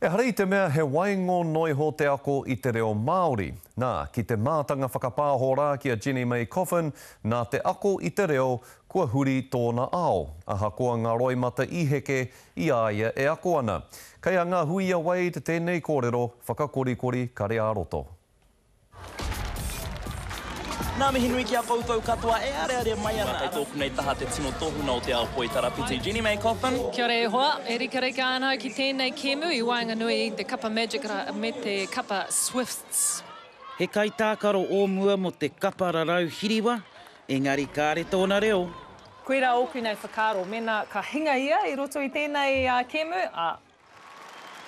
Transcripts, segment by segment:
Ehara i te mea he waingo noa iho te ako i te reo Māori. Nā, ki te mātanga whakapāho rā ki a Jenny May Coffin, nā te ako i te reo kua huri tōna ao, ahakoa ngā roimata i heke i a ia e ako ana. Kei a Ngahuia Wade tēnei kōrero whakakorikori kare-ā-roto. Nā mihi nui ki a koutou katoa e areare mai ana. Kei tōku nei taha te tino tohunga o te ao poi tarapiti, Jenny May Cothen. Kia ora e hoa, e rikarika ana au ki tēnei kēmu i waenganui i te Kapa Magic me te Kapa Swifts. He kaitākaro o mua mō te Kapa Rarau Hiriwa, engari kāre tōna reo. Koirā ōku nei whakaaro, mēnā ka hinga ia i roto i tēnei kēmu, ā,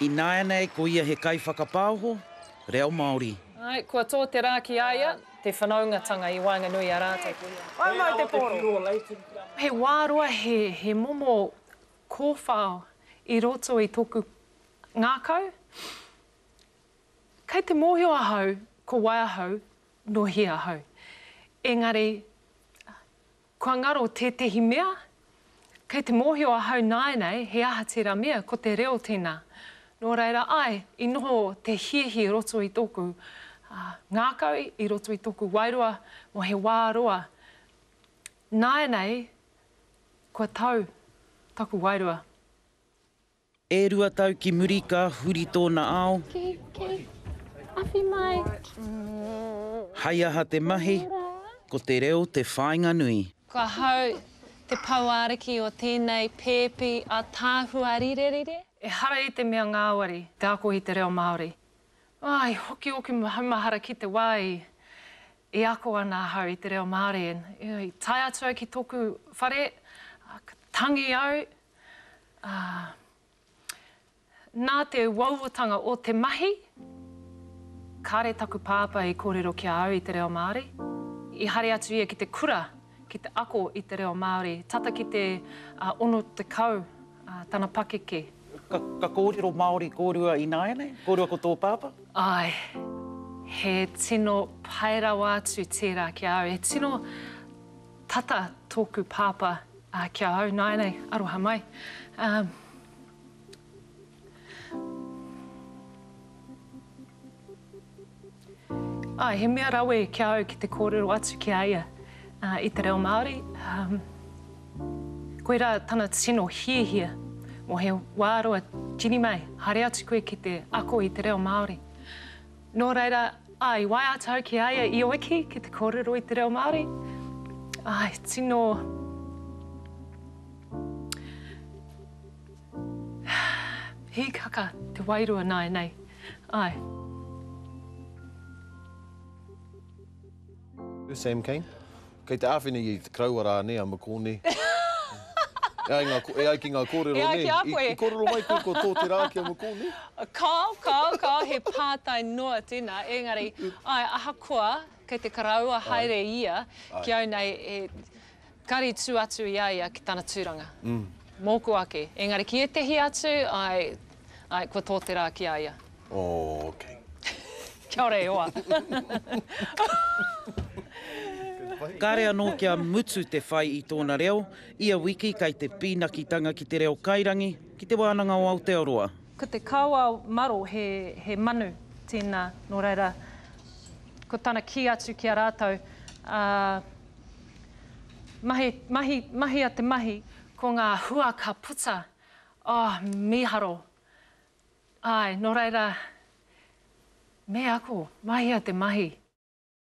Ināianei ko ia he kaiwhakapaoho reo Māori. Āe, kua tō te rā ki a ia. Te whanaungatanga i waenganui i a rātou ko ia. Whai mai te pōro. He wā roa, he momo kōwhao i roto i tōku ngākau. Kei te mōhio ahau ko wai ahau, nō hea ahau. Engari, Kua ngaro tētehi mea? Kei te mōhio ahau nāenei he aha tērā mea, ko te reo tēnā. Nō reira, āe, i noho te hiahia i roto i tōku ngākau, i roto i tōku wairua mō he wā roa. Nāenei kua tau taku wairua. E rua tau ki muri ka huri tōna ao. Ki, ki, awhi mai. Hai aha te mahi, ko te reo te whāinga nui. Ko ahau te pouāriki o tēnei pēpi ataahua rirerire. Ehara i te mea ngāwari te ako i te reo Māori. Oh, i hoki ōku maumahara ki te wā i, i ako ana ahau i te reo Māori and, you know, i tae atu au ki tōku whare, ka tangi au, Ā, nā te uauatanga o te mahi, kāre taku pāpā i kōrero ki a au i te reo Māori. I haere atu ia ki te kura ki te ako i te reo Māori tata ki te 60 tana pakeke. Ka, ka kōrero Māori kōrua ināianei? Kōrua ko tō pāpā? Āe. He tino pai rawa atu tērā ki a au. He tino tata tōku pāpā Ā, ki a au nāianei, aroha mai. Ā. Āe, he mea rawe ki a au ki te kōrero atu ki a ia i te reo Māori. Ā, koirā tana tino hiahia, mō he wā roa tini mai, haere atu koe ki te ako i te reo Māori. Nō reira, ā, i waiata au ki a ia i oiki ki te kōrero i te reo Māori, ā, i tino hīkaka te wairua nāianei, āe. Sam Cane. Kei te āwhina ia i te karaua rā nē a Mokone. E ai ngā, e ai ki ngā kōrero nē, i, i kōrero mai koe kua tō te rā ki a Mokone? Kāo, kāo, kāo, he pātai noa tēnā, ēngari, āe, ahakoa kei te karaua haere ia ki au nei, e kari tū atu i a ia ki tana tūranga. Mōku ake. Ēngari ki ētehi atu, āe, Ae, kua tō te rā ki a ia. Ookei. Kia ora e hoa. Kāre anō kia mutu te whai i tōna reo, ia wiki kei te pīnakitanga ki te reo kairangi, ki Te Wānanga o Aotearoa. Ko te kawa maro he, he manu tēnā, nō reira, ko tana kī atu ki a rātou, ā, mahi, mahi, mahia te mahi, ko ngā hua ka puta Oh, mīharo. Āe, nō reira, me ako, mahia te mahi.